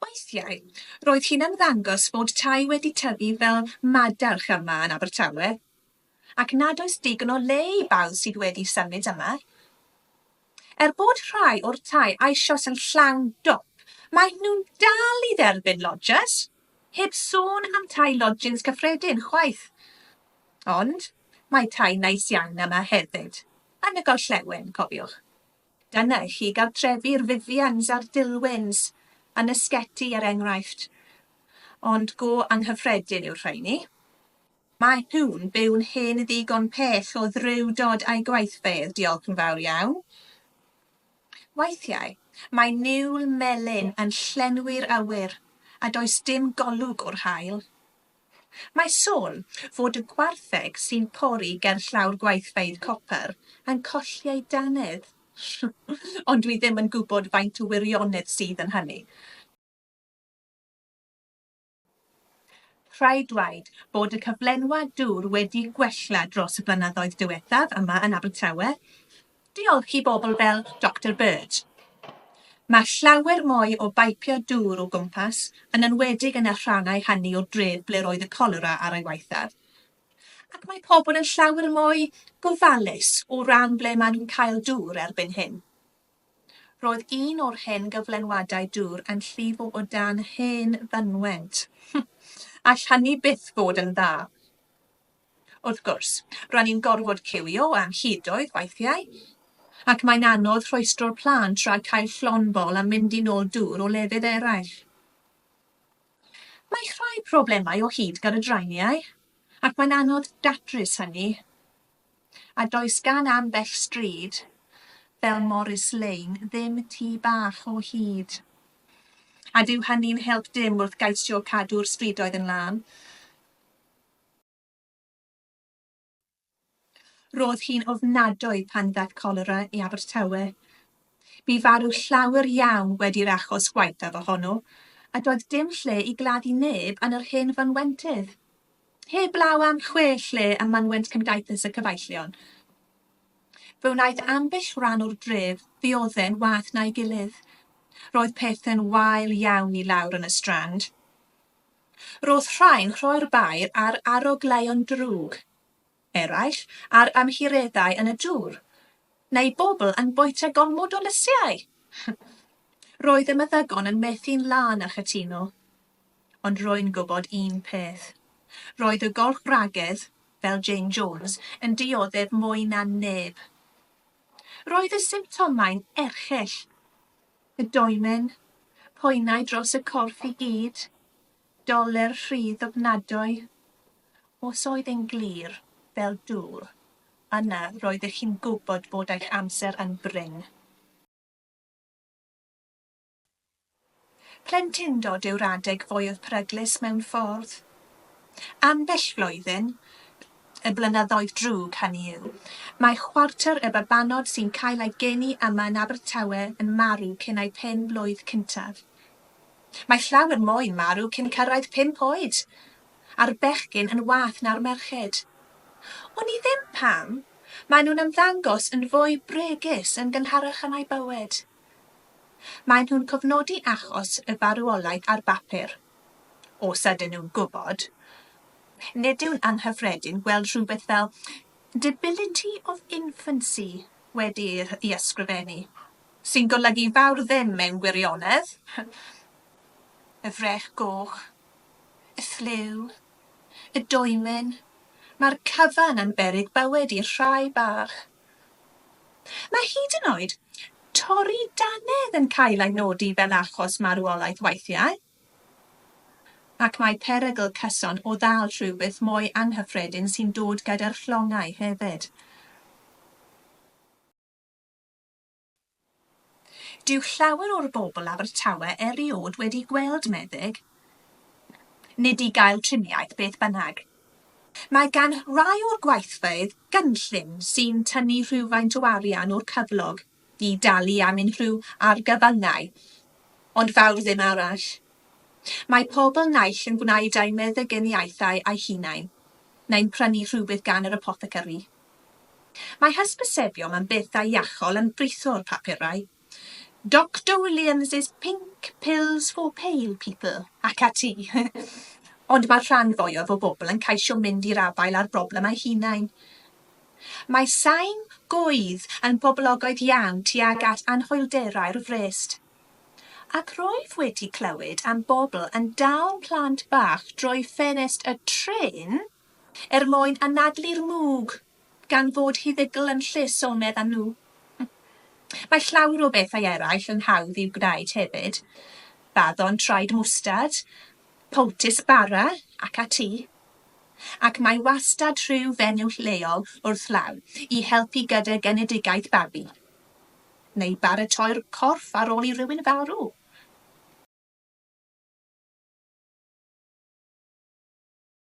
Weithiau, roedd hi'n ymddangos bod tai wedi tyfu fel madarch yma yn Abertawe, ac nad oes digon o le i bawb sydd wedi symud yma. Er bod rhai o'r tai eisoes yn llawn dop, maen nhw'n dal i dderbyn lodges, heb sôn am tai lodjins cyffredin chwaith. Ond mae tai neis iawn yma hefyd. Yn y gorllewin, cofiwch. Dyna i chi gartrefi'r Vivians a'r Dilwyns yn y Sgeti er enghraifft. Ond go anghyffredin yw'r rheini. Mae nhw'n byw'n hen ddigon pell o ddrewdod a'i gwaithfeydd, diolch yn fawr iawn. Weithiau, mae niwl melyn yn llenwi'r awyr, a does dim golwg o'r haul. Mae sôn fod y gwartheg sy'n pori gerllaw'r gweithfeydd copr yn colli ei dannedd, ond dwi ddim yn gwybod faint o wirionedd sydd yn hynny. Rhaid dweud bod y cyflenwad dŵr wedi gwella dros y blynyddoedd diwethaf yma yn Abertawe, Diolch i bobl fel Doctor Bird. Mae llawer mwy o baipio dŵr o gwmpas, yn enwedig yn y rhannau hynny o'r dref ble roedd y colera ar ei waethaf. Ac mae pobl yn llawer mwy gofalus o ran ble maen nhw'n cael dŵr erbyn hyn. Roedd un o'r hen gyflenwadau dŵr yn llifo o dan hen fynwent. All hynny byth fod yn dda. Wrth gwrs, ro'n ni'n gorfod ciwio am hyd oedd weithiau, ac mae'n anodd rhwystro'r plânt rhag cael llond bol a mynd i nôl dŵr o lefydd eraill. Mae rhai problemau o hyd gyda draeniau, ac mae'n anodd datrys hynny, a does gan ambell stryd, fel Morris Lane, ddim tŷ bach o hyd. A dyw hynny'n help dim wrth geisio cadw'r strydoedd yn lân. Roedd hi'n ofnadwy pan ddaeth cholera i Abertawe. Bu farw llawer iawn wedi'r achos gwaethaf ohono, a doedd dim lle i gladdu neb yn yr hen fynwentydd. Heblaw am chwe lle ym mynwent Cymdaithas y Cyfeillion, fe wnaeth ambell ran o'r dref ddioddef'n wath na'i gilydd. Roedd pethau'n wael iawn i lawr yn y Strand. Roedd rhai'n rhoi'r baer ar arogleuon drwg, eraill ar amheureddau yn y dŵr, neu bobl yn bwyta gormod o lysiau! Roedd y meddygon yn methu'n lân a chytuno. Ond rwy'n gwybod un peth. Roedd y golch wragedd, fel Jane Jones, yn dioddef mwy na neb. Roedd y symptomau'n erchyll. Y domen, poenau dros y corff i gyd, doler rhydd ofnadwy. Os oedd e'n glir, fel dŵr, yna roeddech chi'n gwybod bod eich amser yn brin. Plentyndod yw'r adeg fwyaf peryglus mewn ffordd. Ambell flwyddyn, y blynyddoedd drwg, hynny yw, mae chwarter y babanod sy'n cael eu geni yma yn Abertawe yn marw cyn eu pen blwydd cyntaf. Mae llawer mwy yn marw cyn cyrraedd pump oed, a'r bechgyn yn wath na'r merched. Wn i ddim pam, maen nhw'n ymddangos yn fwy bregus yn gynharach yn eu bywyd. Maen nhw'n cofnodi achos y farwolaeth ar bapur. Os ydyn nhw'n gwybod, nid yw'n anghyffredin gweld rhywbeth fel 'debility of infancy' wedi'i ysgrifennu, sy'n golygu fawr ddim mewn gwirionedd, y frech goch, y ffliw, y dwymyn, mae'r cyfan yn beryg bywyd i'r rhai bach. Mae hyd yn oed torri dannedd yn cael ei nodi fel achos marwolaeth weithiau, ac mae perygl cyson o ddal rhywbeth mwy anghyffredin sy'n dod gyda'r llongau hefyd. Dyw llawer o'r bobl Abertawe eriod wedi gweld meddyg, nid i gael triniaeth, beth bynnag. Mae gan rai o'r gweithfeydd gynllun sy'n tynnu rhywfaint o arian o'r cyflog i dalu am unrhyw argyfyngau, ond fawr ddim arall. Mae pobl naill yn gwneud eu meddyginiaethau eu hunain, neu'n prynu rhywbeth gan yr apothecary. Mae hysbysebion am bethau iachol yn britho'r papurau, Doctor Williams's pink pills for pale people ac ati. Ond mae'r rhan fwyaf o bobl yn ceisio mynd i'r afael â'r broblem eu hunain. Mae sain goedd yn boblogaidd iawn tuag at anhwylderau'r frest. Ac rwyf wedi clywed am bobl yn dal plant bach drwy ffenest y trên, Er mwyn anadlu'r mwg, gan fod huddygl yn lle sonedd a nhw. Mae llawer o bethau eraill yn hawdd i'w gwneud hefyd, baddon traed mwstard, powtis bara ac ati. Ac mae wastad rhyw fenyw lleol wrth law i helpu gyda genedigaeth babi, neu baratoi'r corff ar ôl i rywun farw.